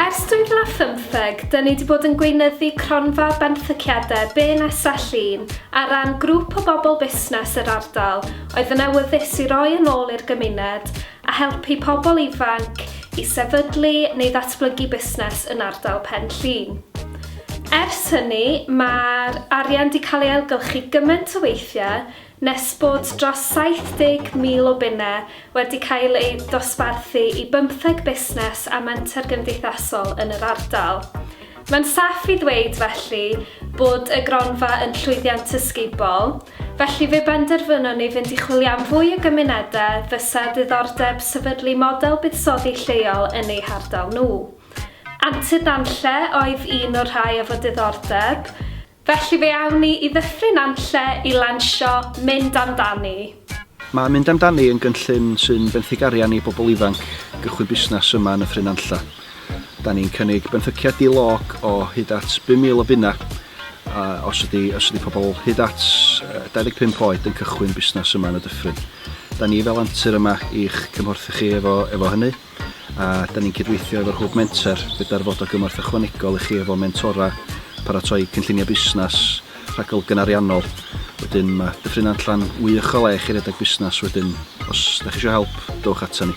Ers 2015, dyn ni wedi bod yn gweinyddu cronfa benthyciadau BNSA Llŷn ar ran grŵp o bobl busnes yr ardal oedd yn awyddus i roi yn ôl i'r gymuned a helpu pobl ifanc i sefydlu neu ddatblygu busnes yn ardal Pen Llŷn. Ers hynny, mae'r arian wedi cael ei ailgylchu gymaint o weithiau Nes bod dros 70,000 o bunnau wedi cael eu dosbarthu i bymtheg busnes a menter gymdeithasol yn yr ardal. Mae'n saff i ddweud, felly, bod y gronfa yn llwyddiant ysgubol, felly fe benderfynon ni fynd i chwilio am fwy o gymunedau fysa ddiddordeb sefydlu model buddsoddi lleol yn eu hardal nhw. Antur Nantlle oedd un o'r rhai efo diddordeb, Felly fe awn ni i Ddyffryn Nantlle i lansio Mynd Amdani. Mae Mynd Amdani yn gynllun sy'n benthyg arian i bobl ifanc gychwyn busnes yma yn Nyffryn Nantlle. Da ni'n cynnig benthyciad di-log o hyd at 5,000 o bunnau os ydy, os ydy pobl hyd at 25 oed yn cychwyn busnes yma yn y Dyffryn. Da ni fel antur yma i'ch cymhorthu chi efo, efo hynny. a da ni'n cydweithio efo'r Hwb Menter gyda'r Fod o Gymorth Ychwanegol i chi efo mentora, paratoi cynlluniau busnes, rhagolygon ariannol. Wedyn mae Dyffryn Nantlla'n wych o le i chi redeg busnes wedyn os da chi eisiau help, dowch ato ni.